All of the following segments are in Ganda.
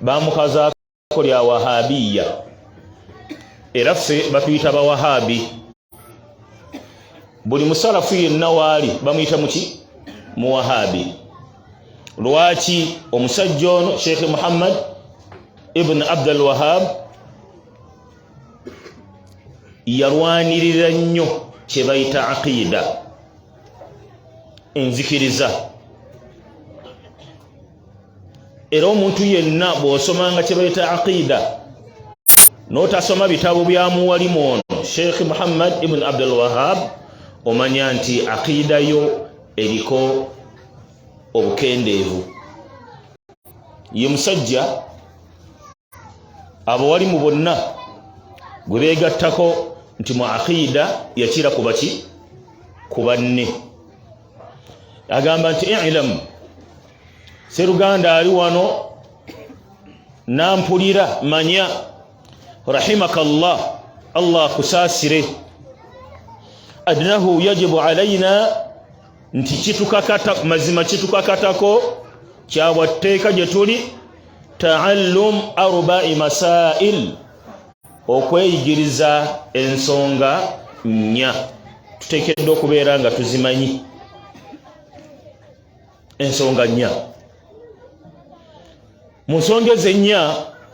bamukazaako lya wahabiya era ffe batuyita bawahabi buli musalafu yenna waali bamuyita muki muwahabi lwaki omusajja ono sheikh muhammad ibn abdul wahab yalwanirira nnyo kyebayita aqida enzikiriza era omuntu yenna bw'osomanga kye bayita aqiida n'otasoma bitabo bya muwalimu ono sheikh muhammad ibn abdul wahab omanya nti aqiida yo eriko obukendeevu ye musajja abo wali mu bonna gwe beegattako nti mu aqiida yakira ku baki ku banne agamba nti ilamu seruganda ali wano nampulira manya rahimaka llah allah akusaasire adnahu yajibu alaina nti kitukakata mazima kitukakatako kyabwa tteeka gye tuli taallum arba'i masail okweyigiriza ensonga nnya tuteekeddwa okubeera nga tuzimanyi ensonga nnya mu nsonga ezo ennya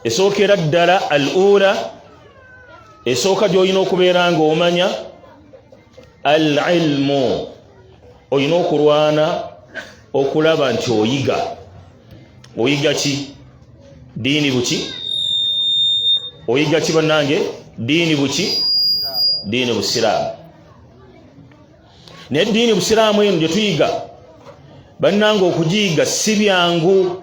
esookera ddala al ula esooka gy'olina okubeera ng'omanya al ilmu olina okulwana okulaba nti oyiga oyiga ki diini buki oyiga ki bannange diini buki diini busiraamu naye diini busiraamu eno gye tuyiga bannange okugiyiga si byangu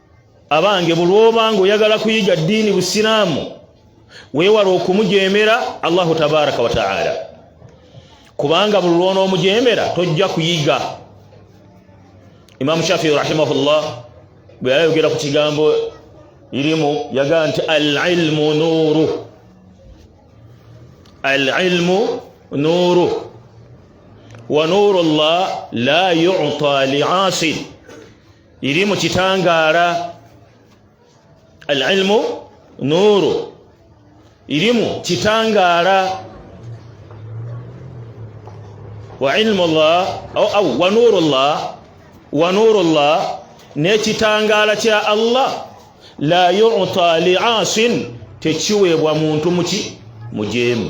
abange bulwoba nga oyagala kuyiga ddiini busiraamu weewala okumujeemera allahu tabaraka wataala kubanga buli lwonoomujeemera tojja kuyiga imaamu shafii rahimahullah bwe yayogera ku kigambo irimu yagaa nti alilmu nuuru alilmu nuuru wa nuuru llah la yuta liasin iri mu kitangaala alilmu nuuru irimu kitangaala wa ilmu llah au wa nuuru llah wa nuuru llah n'ekitangaala kya allah la yuta liasin tekiweebwa muntu muki mujeemu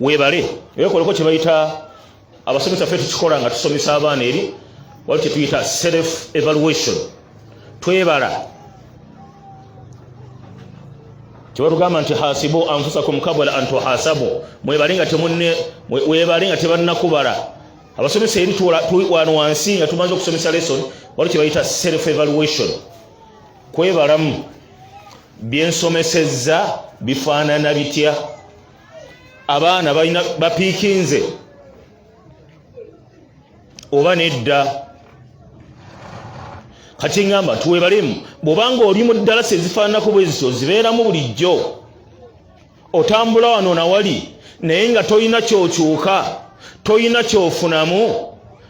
webale wekoleko kyebayita abasomesa fe tukikola nga tusomesa abaana eri wali kyetuyita self evaluation twebala kyebatugamba nti hasibu anfusakum kabula antuhasabu mwebale nga temunne webale nga tebannakubala abasomesa eri wano wansi nga tumaze okusomesa lesson wali kyebayita self evaluation kwebalamu byensomesezza bifaanana bitya abaana balina bapiikinze oba nedda kati ngamba tuwebalemu bwobanga oli mu ddalasa ezifaananako bwezityo zibeeramu bulijjo otambula wano nawali naye nga tolina kyokyuka tolina kyofunamu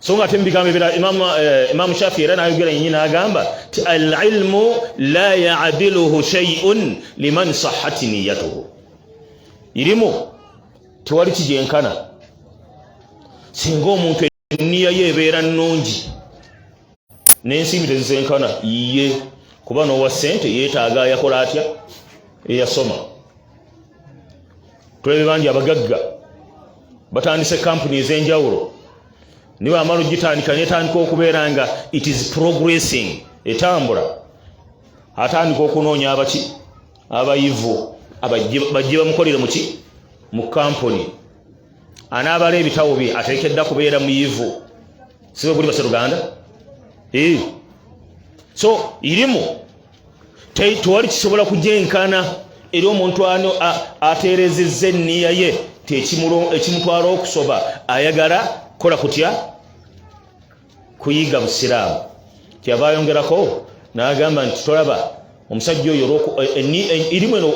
so nga ate mubigambo ebira imamu eh, imamu shafi era nayogera yenyi nagamba ti alilmu la yadiluhu shay'un liman sahhat niyyatuhu ilimu tewali kijenkana singa omuntu enniya ye ebeera nnungi n'ensimbi tezisenkana yiye kuba n'owa ssente yeetaaga yakola atya eyasoma tulebe bangi abagagga batandise kampuni ez'enjawulo niwe amala ogitandika netandika okubeera nga it is progressing etambula atandika okunoonya abaki abayivu bajje bamukolere muki mu kampuni anaabala ebitabo bye atekedda kubeera muyivu siwe kuli base luganda eh so ilimu tewali kisobola kujenkana eri omuntu ano aterezeza enniya ye ekimutwala okusoba ayagala kola kutya kuyiga busiraamu kyava ayongerako nagamba nti tolaba omusajja oyo erimu eh, eh, eno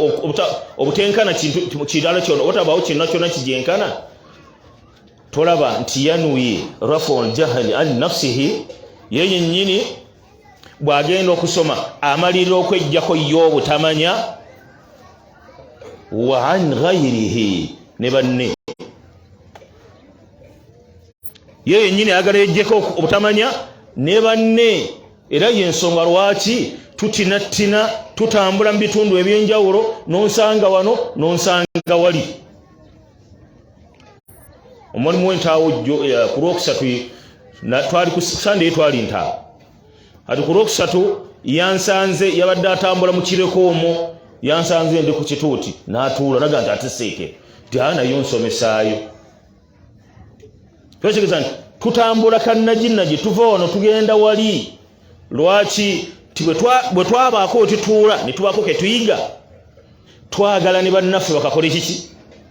obutenkana kirala kyona otabaawo kyonna kyona kijenkana tolaba nti yanuye rafu ljahali an nafsihi ye yennyini bw'agenda okusoma amalirira okwejjako ye obutamanya wa an ghairihi ne banne ye yennyini ayagala yejjeko obutamanya ne banne era yensonga lwaki tutinattina tutambula mu bitundu eby'enjawulo n'onsanga wano n'onsanga wali omulimu w'entaawo eh, ku lwokusatu twali ku sande twali ntaawo kati ku lwokusatu yansanze yabadde atambula mu kireko omwo yansanze ndi ku kituuti n'atuula naga nti ateseeke nti aa nayo nsomesaayo kyokigeeza nti tutambula kannaginagi tuva wano tugenda wali lwaki ti bwe twabaako wetutuula ne tubaako ketuyiga twagala ne bannaffe bakakole kiki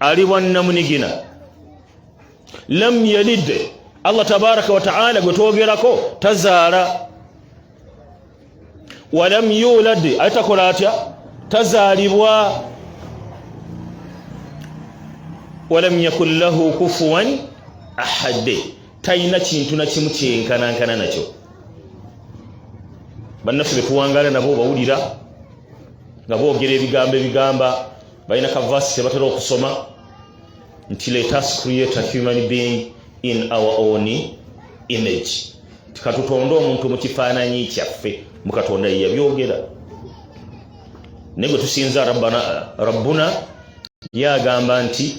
ali bwannamunigina lam yalid allah tabaraka wataala gwe twogerako tazaala walam yulad ate takola atya tazaalibwa walam yakun lahu kufuwan ahadde talina kintu nakimu kyenkanankana nakyo bannaffe betuwangaala nabo obawulira nga boogera ebigambo ebigamba balina kavasi kyebatera okusoma nti let us create a human being in our own image tikatutonde omuntu mukifaananyi kyaffe mukatonda yeyabyogera naye gwe tusinza rabbuna yagamba nti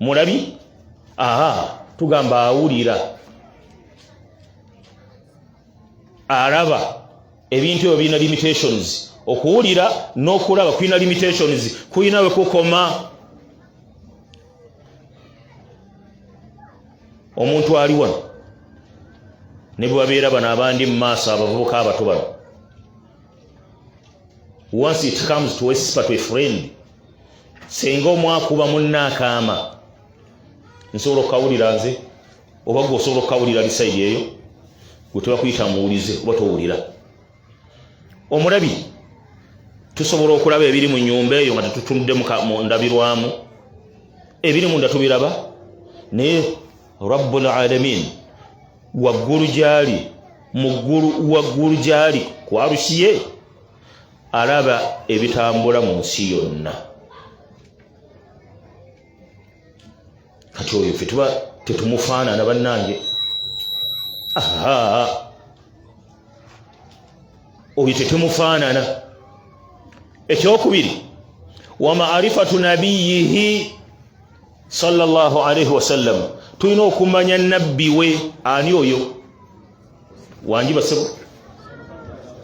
mulabi aha tugamba awulira alaba ebintu ebyo birina limitations okuwulira n'okulaba kulina limitations kulina we kukoma omuntu ali wano ne bwe babeera bano abandi mu maaso abavubuka abato bano once it comes to a spiritual friend senga omwakuba munna akaama nsobola okukawulira nze oba gwe osobola okukawulira lisaidi eyo gwe tebakuyita muwulize oba towulira omulabi tusobola okulaba ebiri mu nyumba eyo nga tetutunudde mu ndabirwamu ebiri munda tubiraba naye rabbul alamin waggulu gyali mu ggulu waggulu gyali kwalusiye alaba ebitambula mu nsi yonna kati oyo fe tuba tetumufaanana bannange oyo tetumufaanana ekyokubiri wa maarifatu nabiyihi salllah alaihi wasallam tulina okumanya nabbi we ani oyo wangi basebo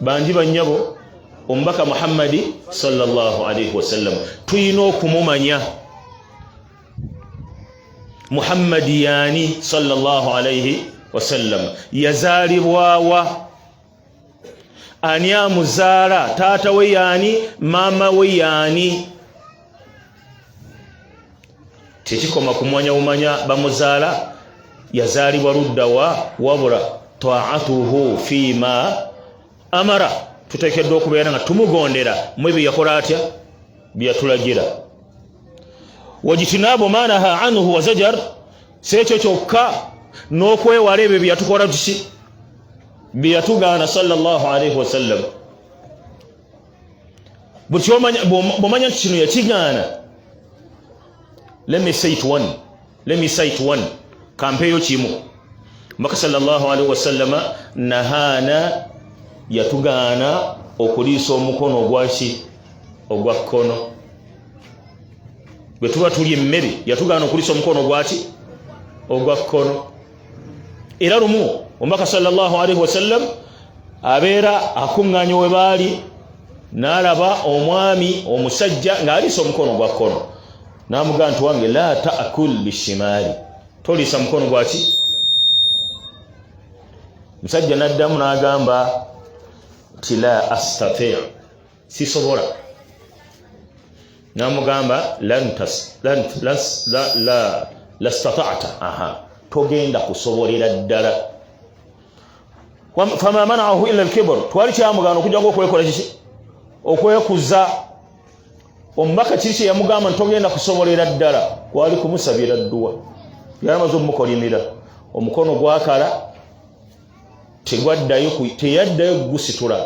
bangi banyabo omubaka muhammadi salllah alaihi wasallam tulina okumumanya muhammadi yani salllah alaihi wasallam yazaalibwawa ani amuzaala taata we yani maama we yani tekikoma kumanya umanya bamuzaala yazaalibwa ludda wa wabula taatuhu fima amara tuteekeddwa okubeera nga tumugondera mwe bye yakola atya bye yatulagira wajitinaabu manaha anhu wazajar si ekyo kyokka n'okwewala ebyo bye yatukola tuki bye yatugaana salllah alaihi wasallam bwomanya nti kino yakigaana lemisaitone kampeeyo kimu mbaka salllahalihi wasallama nahaana yatugaana okuliisa omukono ogwaki ogwa kkono bwe tuba tulya emmere yatugaana okuliisa omukono ogwaki ogwa kkono era lumu omubaka sallallahu alaihi wasallam abeera akuŋŋaanya we baali n'alaba omwami omusajja ng'aliisa omukono gwa kkono n'amugaa nti wange la taakul bishimaali toliisa mukono gwaki musajja n'addamu n'agamba nti la astatia sisobola namugamba lastatata aha togenda kusobolera ddala fama manahu ila lkibr twali kyamugana okujjako okwekola kiki okwekuza omubaka kiri kyeyamugamba ntitogenda kusobolera ddala kwali kumusabira dduwa yalamaze omumukolimira omukono gwakala tegwaddayo teyaddayo gusitula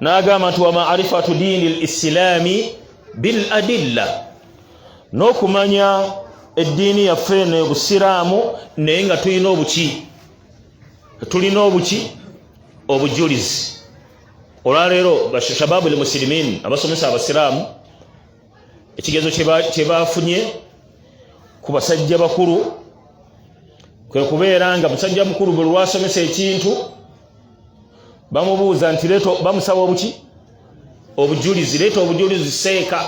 n'agamba nti wa maarifatu diini lislaami bil adilla n'okumanya eddiini yaffe eno obusiraamu naye nga tulina obuki tulina obuki obujulizi olwaleero bashababu lmusilimin abasomesa abasiraamu ekigezo kye baafunye ku basajja bakulu kwe kubeera nga musajja mukulu bwe lwasomesa ekintu bamubuuza nti leeto bamusaba obuki obujulizi leeta obujulizi seeka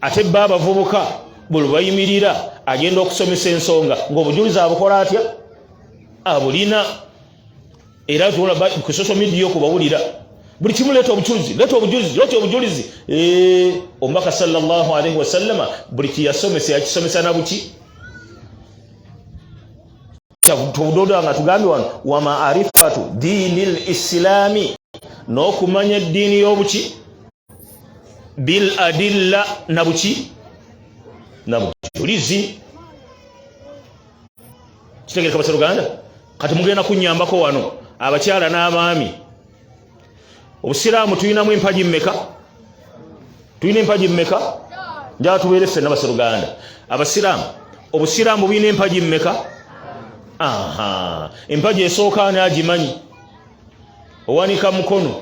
ate bba abavubuka bwe lubayimirira agenda okusomesa ensonga ng'obujulizi abukola atya abulina era tulaba ku social media yo kubawulira buli kimu leeta obujulizi leeta obujulizi leeta obujulizi eh, omubaka sallallahu alaihi wasallama buli kiyasomesa yakisomesa nabuki tubudoda nga tugambye wano wa maarifatu diini lislaami n'okumanya eddiini y'obuki bil adilla nabuki nabujulizi kitegereka basa luganda kati mugenda kunyambako wano abakyala n'abaami obusiraamu tulinamu empagi mmeka tulina empagi mmeka njala tubeere ffenna basa luganda abasiraamu obusiraamu bulina empagi mmeka empagi esooka ani agimanyi owanika mukono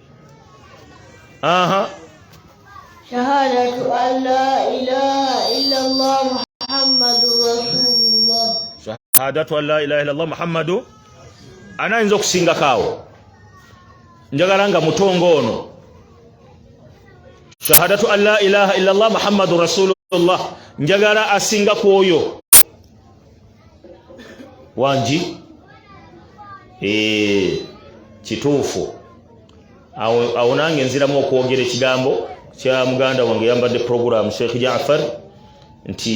aha shahadatu an la ilaha illa allah muhammadu rasulullah shahadatu an la ilaha illa allah muhammadu ana ayinza okusingako awo njagala nga mutongo ono shahadatu an la ilaha illa allah muhammadu rasulullah njagala asinga ku oyo wangi eh, kituufu awo nange nziramu okwogera ekigambo kya muganda wange yambadde puroguramu sheikh jafar nti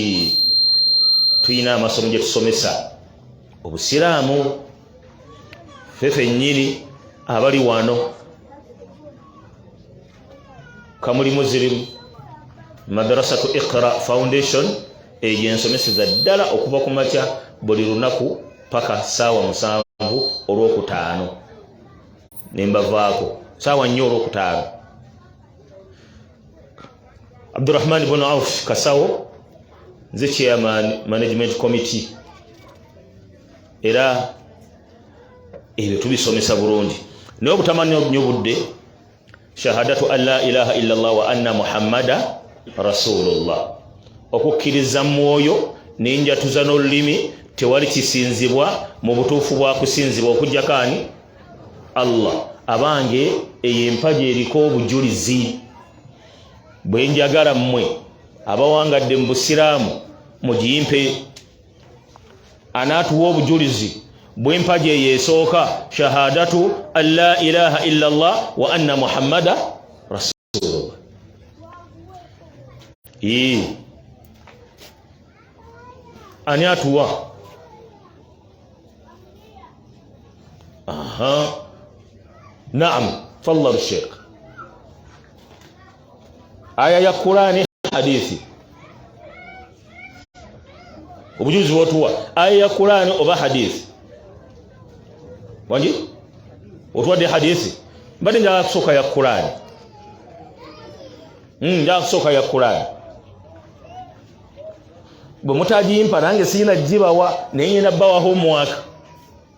tulina amasomo gye tusomesa obusiraamu fe fennyini abali wano kamuli muzirimu madrasatu iqra foundation egyo ensomeseza ddala okuva ku makya buli lunaku paka saawa musanvu olwokutaano nembavaako saawa nnyo olwokutaano abdurahman bun auf kasawo nze chairman management committee era ebyo tubisomesa bulungi naye obutamanya nyo budde shahadatu an la ilaha illa llah wa anna muhammada rasulullah okukkiriza mwoyo nenjatuza n'olulimi tewali kisinzibwa mu butuufu bwa kusinzibwa okujjako ani allah abange eyo empaji eriko obujulizi bwenjagala mmwe abawangadde mu busiraamu mugiyimpe anaatuwa obujulizi bw'empagi eyo esooka shahadatu an la ilaha illa llah wa anna muhammada rasulullah ani atuwa aha naam fadla sheikh aya ya kurani hadithi obujuzi wotuwa aya ya kurani oba hadithi wangi otuwadde hadithi mbadde njagala kusooka ya kurani hmm, njagala kusooka ya kurani bwe mutagimpa nange sirina gibawa naye ngenda bawaho omwaka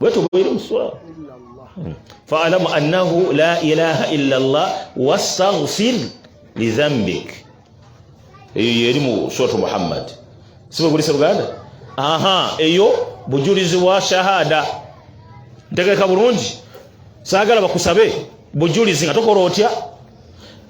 wetu bwiri muswa hmm. fa'alam annahu la ilaha illa Allah wastaghfir li dhanbik eyo yeri mu sura Muhammad sibe kulisa Uganda aha eyo bujulizi wa shahada ntegeka bulungi sagala bakusabe bujulizi nga tokora otya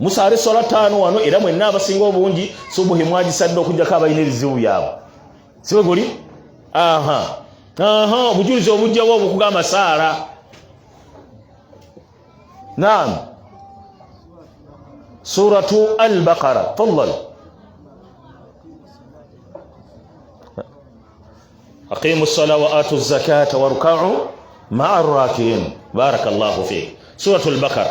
musaale sola taano wano era mwenna abasinga obungi subuhi mwagisadde okujjako abalina ebizibu byabwe sibe guli aha aha obujulizi obujjawo obukugamba saala naam suratu albaqara fadal aqimu sala wa atu zakata warukau maa rakiin baraka llahu fik suratu albaqara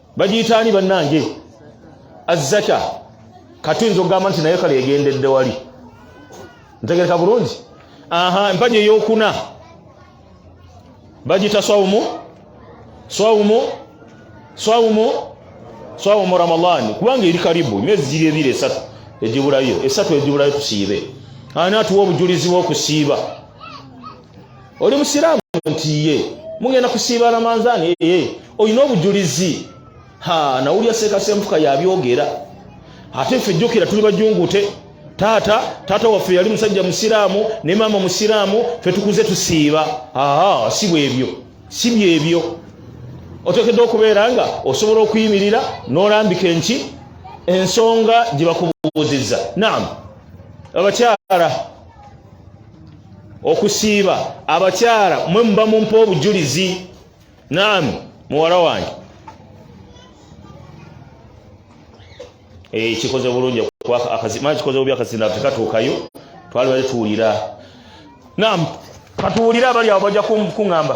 bagiyita ani bannange azzaka kati nza okugamba nti naye kale egendedde wali ntegereka bulungi aha empaji eyokuna bagiyita swawumu swawumu swawumu swawumu ramadaani kubanga eri karibu emyezi giri ebiri esatu egibulayo esatu egibulayo tusiibe ani atuwa obujulizi bwokusiiba oli musiraamu nti ye mugenda kusiiba ramanzaani eye olina obujulizi ha nawulira seekasemfuka yabyogera ate ffe jjukira tuli bajungute taata taata waffe yali musajja musiraamu ne maama musiraamu fe tukuze tusiiba aa si bwebyo si byebyo otekedde okubeera nga osobola okuyimirira n'olambika enki ensonga gye bakubuuzizza naamu abakyala okusiiba abakyala mwe muba mumpa obujulizi naami muwala wange eh, kikoze bulungi kikoze bubi akazinda tekatuukayo twalibale tuwulira naam katuwulire abali awo bajja kuŋŋamba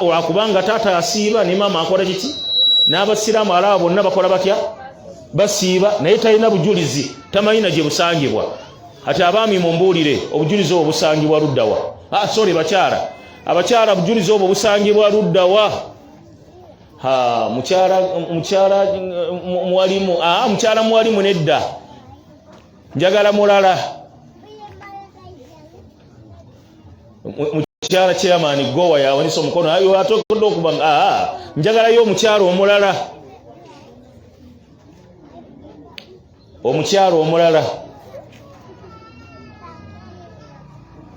wakubanga taata asiiba ne maama akola kiki n'abasiraamu alaba bonna bakola batya basiiba naye talina bujulizi tamanyina gye busangibwa ati abaami mumbuulire obujulizi obwo busangibwa luddawa ah, sorry bakyala abakyala obujulizi obwo busangibwa luddawa mukyala mukyala muwalimu ah, mukyala muwalimu nedda njagala mulala mukyala chairman gowa yawanisa omukono ayo atokodde okuba nga ah, ah, njagalayo omukyala omulala omukyala omulala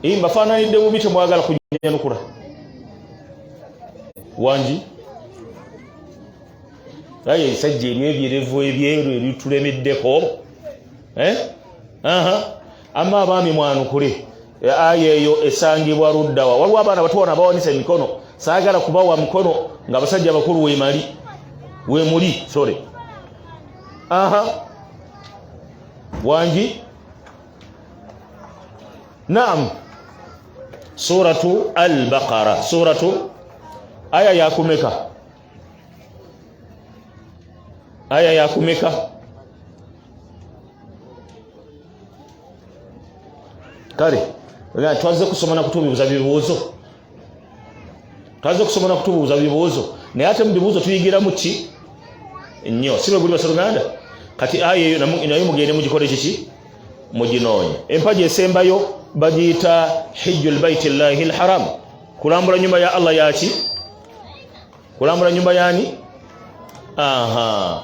ii mbafaananidde bubi temwagala kunyanukula wangi aye ebisajja ebyo ebyerevu ebyeru ebitulemeddeko eh? amma abaami mwanukule e, aya eyo esangibwa luddawa waliwo abaana batuwana abawanisa emikono saagala kubawa mukono nga abasajja abakulu wemali wemuli sorry aha wangi naam suratu albaqara suratu aya yakumeka aya yakumeka kale twazze kusoma na kutubuuza bibuuzo twazze kusoma na kutubuuza bibuuzo naye ate mu bibuuzo tuyigiramu ki nnyo si bwe guli basaluganda kati aya eyo nayo mugende mugikole kiki muginoonye empaji esembayo bagiyita hijju lbaiti llahi lharam kulambula nyumba ya allah yaki kulambula nyumba yani aha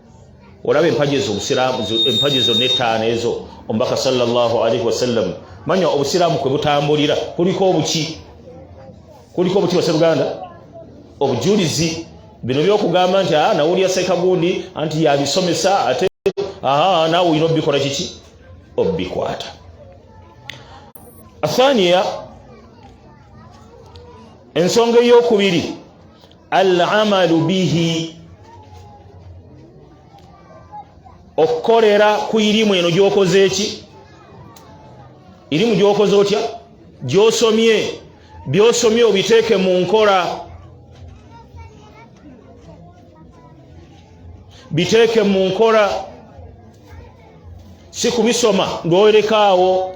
olaba empagi ezo obusiraamu empagi ezo netaano ezo omubaka salllah alaihi wasallam manya obusiraamu kwe butambulira kuliko obuki kuliko obuki baseruganda obujulizi bino byokugamba nti ah, nawulira sekagundi anti yabisomesa ate ah, naawe olina obikola kiki obikwata athaniya ensonga eyokubiri alamalu bihi okukolera ku irimu eno gyokoze eki irimu gyokoze otya gyosomye byosomye obiteeke mu nkola biteeke mu nkola si kubisoma ng'owerekaawo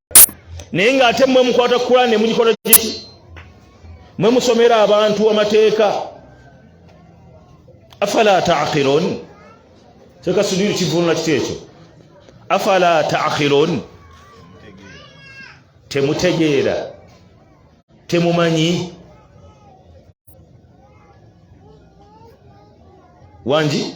naye ng'ate mwe mukwata kukula ne mugikola kiki mwe musomera abantu amateeka afala taqilon teka sudiri kivunula kiti ekyo afala taqilon temutegeera temumanyi wangi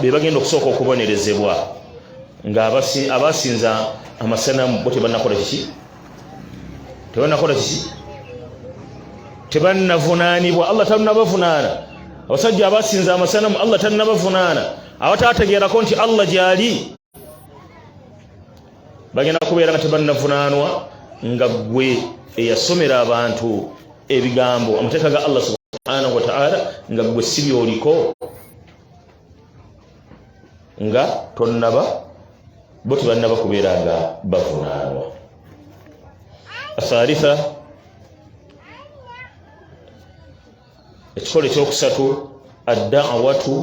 be bagenda okusooka okubonerezebwa nga abasinza amasanamu bo tebanakola kiki tebanakola kiki tebannavunaanibwa allah tannabavunaana abasajja abasinza amasanamu allah tannabavunaana abataategeerako nti allah gyali bagenda kubeera nga tebannavunaanwa nga ggwe eyasomera abantu ebigambo amateeka ga allah subhanahu wataala nga ggwe si byoliko nga tonnaba bo tebannaba kubeera nga bavunaanwa athalitha ekikolo ekyokusatu addawatu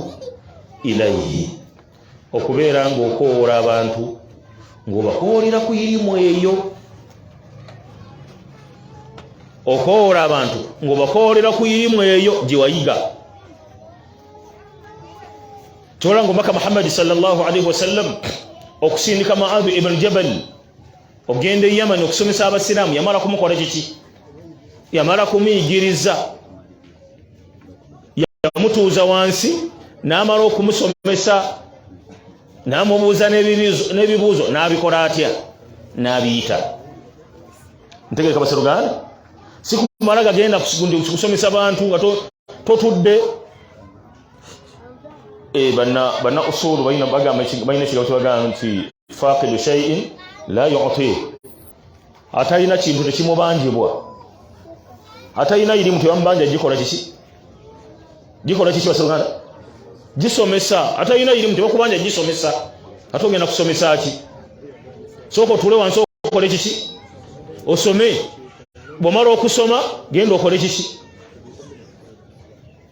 ilaihi okubeera ng'okowoola abantu ng'obakowoolera ku irimu eyo okowoola abantu ng'obakowoolera ku irimu eyo gye wayiga kyola ngaomubaka muhammadi salllah alaihi wasallam okusindika maadu ibn jabal ogenda e yamani okusomesa abasiraamu yamala kumukola kiki yamala kumuyigiriza yamutuuza wansi n'amala okumusomesa n'amubuuza n'ebibuuzo n'abikola atya n'abiyita ntegereka baseruganda sikumala gagenda kusomesa bantu nga totudde eh, banna usuulu balina ekigambo kyebagamba nti faqidu shay'in la yu'ti atalina kintu tekimubanjibwa atalina irimu tebamubanja gikola kiki gikola kiki basiruganda gisomesa atalina irimu tebakubanja gisomesa ate ogenda kusomesa ki sooka otule wansi okole kiki osome bwomala okusoma genda okole kiki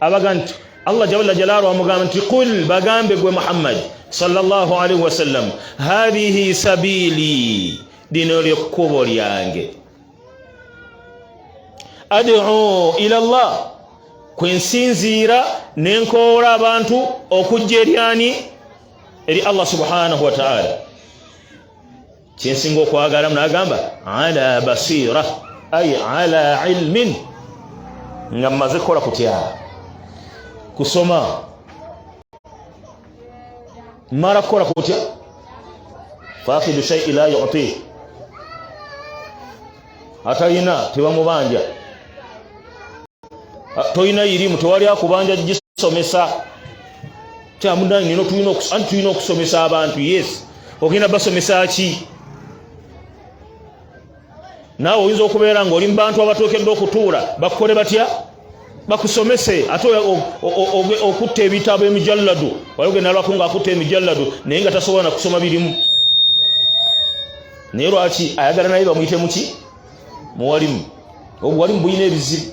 abaga nti allah jalla jalaalu amugamba nti qul bagambe gwe muhammad sallallahu alaihi wasallam hadhihi sabili lino lyekkubo lyange ad'u ila allah kwe nsinziira ne nkoola abantu okujja eryani eri allah subhanahu wataala kyensinga okwagala munagamba ala basira ay ala ilmin nga mmaze kukola kutya kusoma mara kukola kutya fakidu shai la yuti atalina tebamubanja tolina irimu tewali akubanja gisomesa kyamudayi nino tulina okus- anti tulina okusomesa abantu yes ogenda basomesa ki naawe oyinza okubeera ngaoli mu bantu abatuukedde okutuula bakukole batya bakusomese ate oya- o- o- o- okutta ebitabo emijalladu wali ogenda alwako nga akutta emijalladu naye nga tasobola nakusoma birimu naye lwaki ayagala naye bamuyite muki muwalimu obuwalimu bulina ebizibu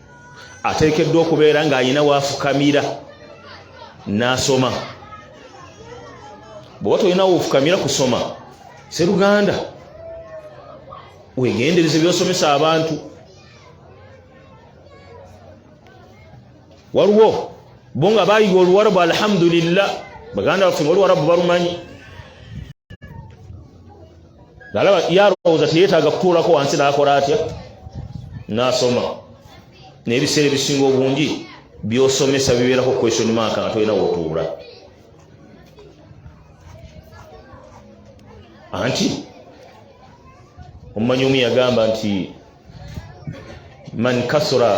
ateekeddwa okubeera ng'alina waafukamira n'asoma bweoba tolina woofukamira kusoma seruganda wegendereze byosomesa abantu waliwo bo nga bayiga oluwarabu alhamdulillah baganda baffe nga oluwarabu balumanyi nalaba yalowooza teyetaaga kutuulako wansi n'akola atya n'asoma naye ebiseera ebisinga obungi byosomesa bibeerako question mark nga tolina wotuula anti omumanyi omu yagamba nti man kasura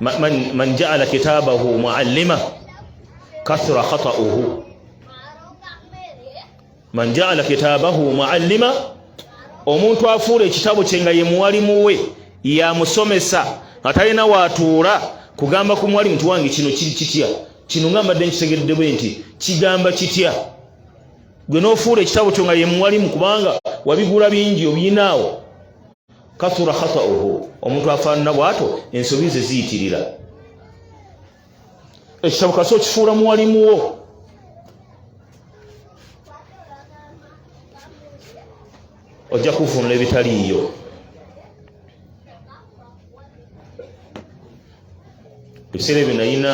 man, man, man jaala kitabahu muallima kasura khatauhu man jaala kitabahu muallima omuntu afuula ekitabo kye nga ye muwalimu we yamusomesa nga talina waatuula kugamba ku muwalimu ti wange kino kiri kitya kino nga mbadde nkitegedde bwe nti kigamba kitya gwe n'ofuula ekitabo kyo nga ye muwalimu kubanga wabigula bingi obiyinaawo kathura khatauhu omuntu afaanana bw'ato ensobi ze ziyitirira ekitabo kasi okifuula muwalimuwo ojja kuvunula ebitaliiyo ebiseera ebyo nayina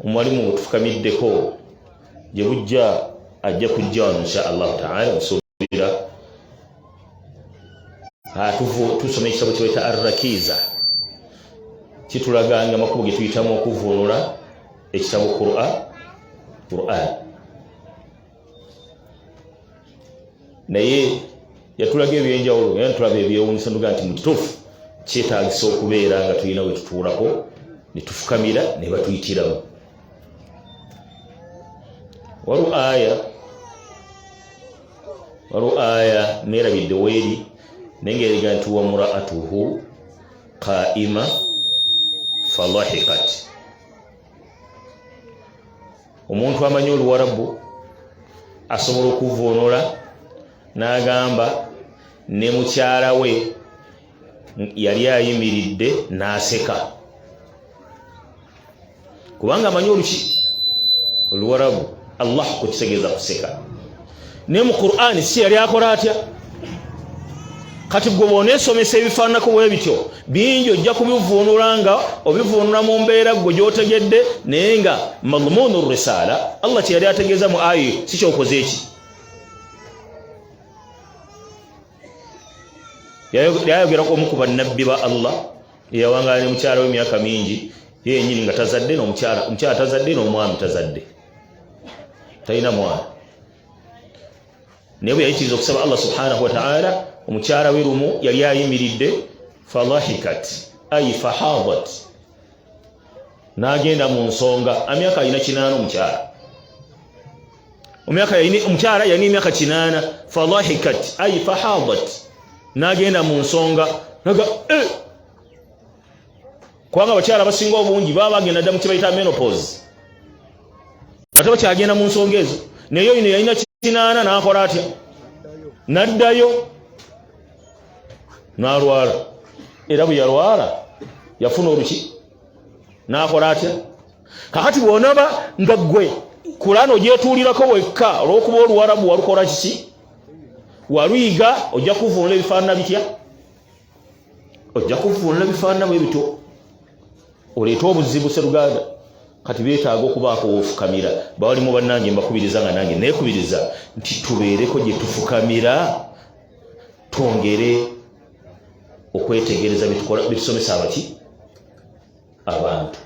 omuwalimu wetufukamiddeko gye bujja ajja kujja wano insha allahu taala tuwulira ah, tusoma ekitabo kyeweta arrakiza kitulaganga amakubo ge tuyitamu okuvunula ekitabo qura quran naye yatulaga ebyenjawulo naye ntulaba ebyewunyisa nduga nti mututufu kyetagisa okubeera nga tulina wetutuulako netufukamira nebatuyitiramu waliwo aya waliwo aya neerabidde weeri naye ngaeriga nti wamuraatuhu qaima falahikat omuntu amanyi oluwarabu asobola okuvvuunula n'agamba ne mukyala we yali ayimiridde n'aseka kubanga amanyi oluki oluwarabu allah kukitegeeza kuseka naye mu qur'ani si yali akola atya kati gwe bwonesomesa ebifaananako bwe bityo bingi ojja kubivuunula nga obivuunula mu mbeera gwe gyotegedde naye nga madmuunu risaala allah kyeyali ategeeza mu ayi si kyokoze eki yayogerako omu ku bannabbi ba allah eyawangaala ne mukyala we emyaka mingi ye yenyini nga tazadde nomukyala omukyala tazadde n'omwami tazadde talina mwana naye bwe yayitiriza okusaba allah subhanahu wataala omukyala we lumu yali ayimiridde falahikat ai fahadat n'agenda mu nsonga amyaka alina kinaana omukyala omyaka yalina omukyala yalina emyaka kinaana falahikat ai fahadat nagenda mu nsonga naga eh! kubanga abakyala abasinga obungi baba bagenda dda mu kibayita menopause ate bakyagenda mu nsonga ezo naye oyino yalina kinaana nakola atya naddayo nalwala era bwe yalwala yafuna oluki nakola atya kakati bwonaba nga gwe kulano gyetuulirako wekka olwokuba oluwarabu walukola kiki waluyiga ojja kuvunula ebifaanana bitya ojja kuvunula ebifaanana bwe bito oleete obuzibu seruganda kati betaaga okubaako wofukamira bawali mu bannange mbakubiriza nga nange nekubiriza nti tubeereko gye tufukamira twongere okwetegereza byetusomesa abaki abantu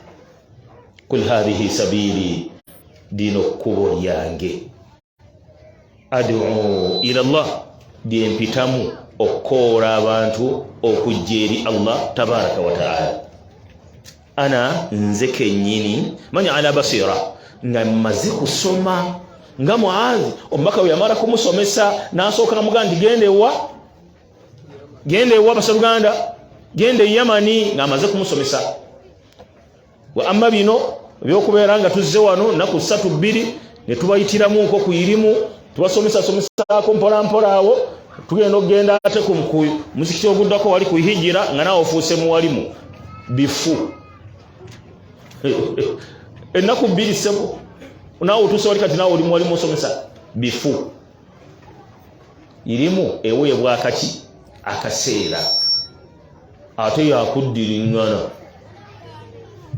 kul hadhihi sabiili lino kkubo lyange adu ila allah lyempitamu okukoola abantu okujja eri allah tabaraka wataala ana nze kenyini mani ala basira nga mmaze kusoma nga muazi omubaka weyamala kumusomesa nasooka namugaa ndigenda ewa genda ewa basaluganda genda e yamani ng'amaze kumusomesa wa amma bino ebyokubeera nga tuzze wano nnaku ssatu bbiri ne tubayitiramu nko ku irimu tubasomesasomesaako mpolampola awo tugenda okugenda ate ku muzikiti oguddako wali ku hijira nga naawe ofuuse muwalimu bifu ennaku bbiri ssebo naawe otuuse wali kati naawe oli muwalimu osomesa bifu irimu eweebwa akaki akaseera ate yakuddiringana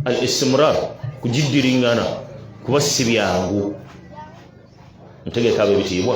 al istimrar kugiddiringana kuba si byangu ntegeka abo ebitiibwa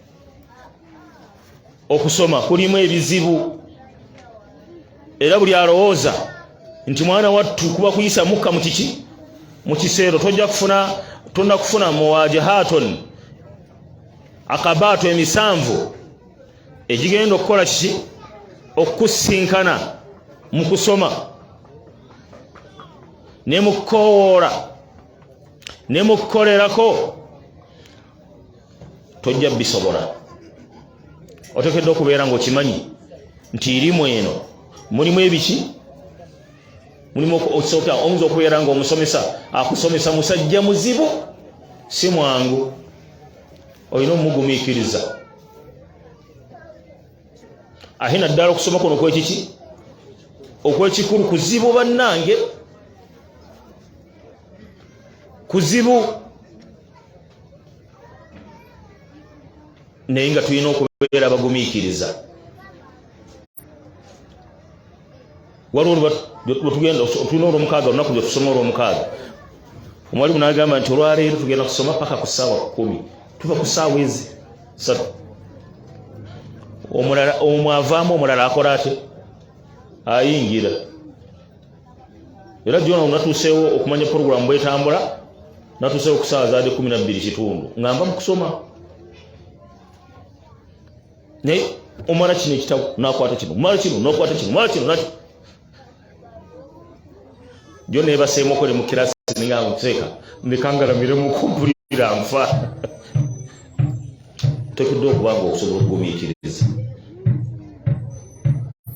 okusoma kulimu ebizibu era buli alowooza nti mwana wattu kuba kuyisa mukka mu kiki mu kiseero tojja kufuna tonna kufuna muwajahaton akabaato emisanvu egigenda okukola kiki okukusinkana mu kusoma ne mu kukowoola ne mu kukolerako tojja bisobola otekedde okubeera nga okimanyi nti irimu eno mulimu ebiki mulimu osooka oyinza okubeera nga omusomesa akusomesa musajja muzibu si mwangu olina omugumikiriza ate naddala okusoma kuno okwekiki okwekikulu kuzibu bannange kuzibu naye nga tulina okubeera abagumiikiriza waliwo lwetugenda otulina olwomukaaga olunaku lwetusoma olwomukaaga omwalimu nagamba nti olwaleero tugenda kusoma paka ku saawa kumi tuva ku saawa ezi satu omulala omwavaamu omulala akola ate ayingira era jona natuseewo okumanya puroguramu bwetambula natuseewo okusaawa zaadi kumi nabbiri kitundu nga nva mukusoma naye omala kino ekitabo nakwata kino omala kino nakwata kino omala kino nakyo jo nebaseemu okole mu kirasi ninga nkuteeka nekangalamire mukumpulira nfa tokedde okuba nga okusobola okugumiikiriza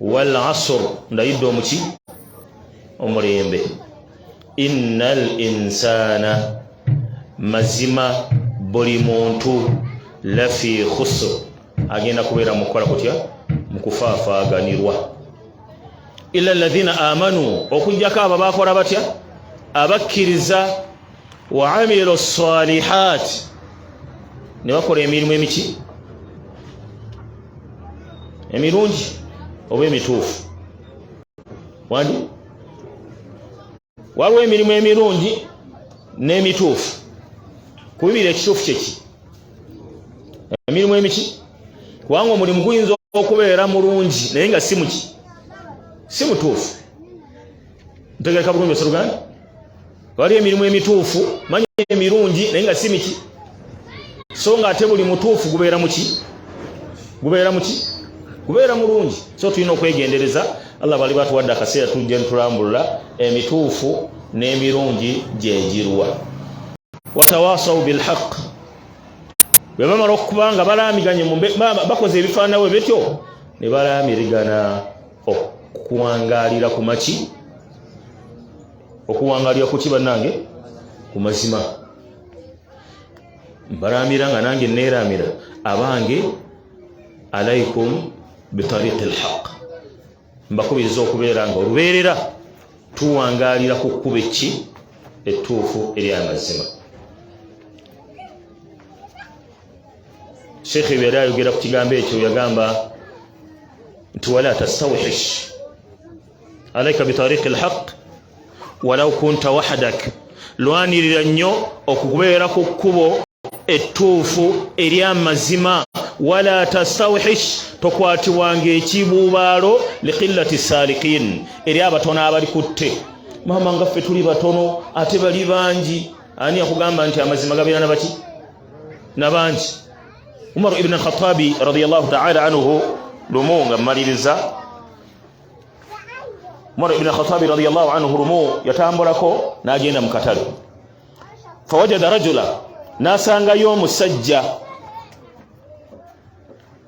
wal asr ndayidde omuki omulembe innal insana mazima buli muntu lafi khusr agenda kubeera mukukola kutya mukufaafaaganirwa ila alladhina amanu okujjako abo bakola batya abakkiriza wa amilu salihat ne bakola emirimu emiki emirungi oba emituufu wandi waliwo emirimu emirungi n'emituufu kubibira ekituufu kyeki emirimu emiki kubanga omulimu guyinza okubeera mulungi naye nga si muki si mutuufu ntegereka bulungi osaluganda wali emirimu emituufu manya emirungi naye nga si miki so nga ate buli mutuufu gubeera muki gubeera muki gubeera mulungi so tulina okwegendereza allah bali batuwadde akaseera tujja ntulambulula emituufu n'emirungi gyegirwa watawasau bilhaq bwe bamala okuba nga balaamiganye bakoze ebifaanawe bityo ne balaamirigana okuwangalira ku maki okuwangalira kuki bannange ku mazima mbalaamira nga nange neeraamira abange alaikum bitariqi lhaq mbakubiriza okubeera nga olubeerera tuwangalira ku kkuba ekki ettuufu eri amazima sheekhe yali ayogera ku kigambo ekyo yagamba nti wala tastawhish alaika bitariqi lhaq walau kunta wahadak lwanirira nnyo okubeera ku kkubo ettuufu eri amazima wala tastawhish tokwatibwanga ekibuubaalo liqillati salikin eri abatono abali kutte maama nga ffe tuli batono ate bali bangi ani akugamba nti amazima gabeera nabaki nabangi umaru ibni alkhatabi radiallahu taala anhu lumu nga mmaliriza Umar ibn Khattab radiyallahu anhu rumu yatambulako nagenda mu katale fawajada rajula nasangayo omusajja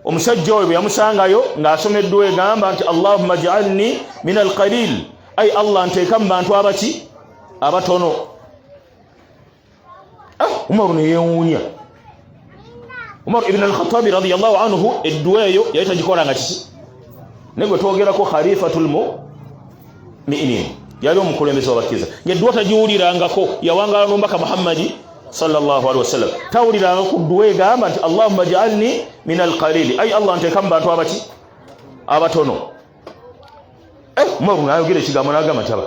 omusajja oyo bwe yamusangayo ng'asomeddwa egamba nti allahumma jaalni min alqalil ai allah nteeka mu bantu abaki abatono ah, umaru ne yewuunya umaru ibn al-khattabi radiyallahu anhu edduwa eyo yali tagikola nga kiki naye gwe twogerako khalifatul mu'minin yali omukulembeze wabakkiriza ngedduwa tagiwulirangako yawangala n'omubaka muhammadi sallallahu alaihi wasallam tawuliranga ku dduwa egamba nti allahumma jaalni min alqalili ayi allah nteeka mu bantu abaki abatono eh, umaru nayogera ekigambo nagamba nti aba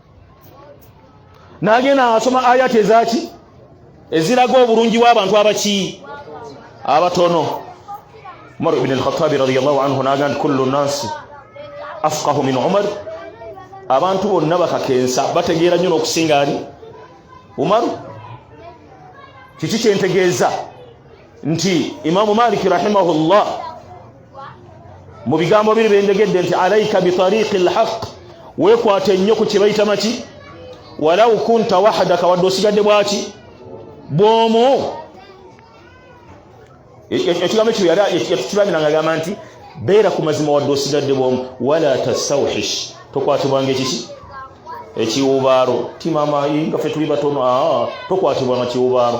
nagenda asoma ayati ezaki eziraga obulungi bw'abantu abaki abatono umar ibn al-khattabi radiyallahu anhu naga nti kullu nasi afqahu min umar abantu bonna bakakensa bategeera nnyo n'okusinga ali umaru kiki kyentegeeza nti imamu maliki rahimahullah mu bigambo biri bendegedde nti alaika bitariqi lhaq wekwata ennyo ku kyebayita maki walau kunta wahadaka wadde osigadde bwaki bwomu e, e, ekigambo ekyo yatukibanira nga gamba nti beera ku mazima wadde osigadde bwomu wala tasauhish tokwatibwanga ekiki ekiwubaalo timama nga fe tuli batono tokwatibwa nakiwubaalo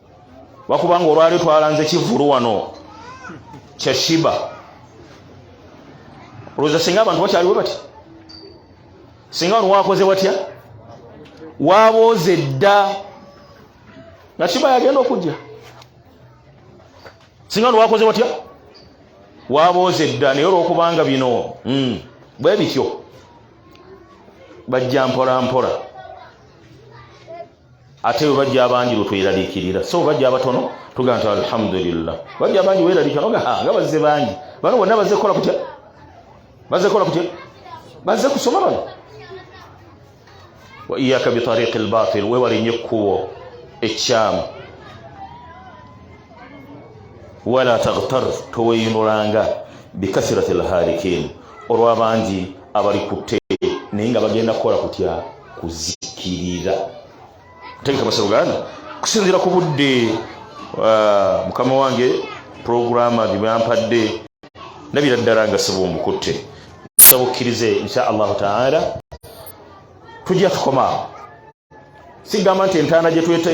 wakubanga olwali twalanze kivulu wano kyashiba olowooza singa abantu bakyaliwo bati singa wano wakoze watya wabooze dda nga shiba yagenda okujja singa wano wakoze watya wabooze dda naye olwokubanga bino hmm, bwe bityo bajja mpolampola ate bwe bajja abangi lwe tweraliikirira so bajja abatono tugamba nti alhamdulillah bajja abangi weeraliikira noga ah, nga bazze bangi bano bonna bazze kukola kutya bazze kukola kutya bazze kusoma bano wa iyaka bitariqi lbatil wewale nnyo ekkubo ekyamu wala tagtar toweyinulanga bikathirati lhalikin olw'abangi abali kutte naye nga bagenda kukola kutya kuzikirira tegeka basaba uganda kusinzira ku budde ah, mukama wange puroguramu gyebampadde nabira ddala nga siba omukutte nsaba okkirize insha allahu taala tujja tukomaawo sigamba nti entaana gyetwete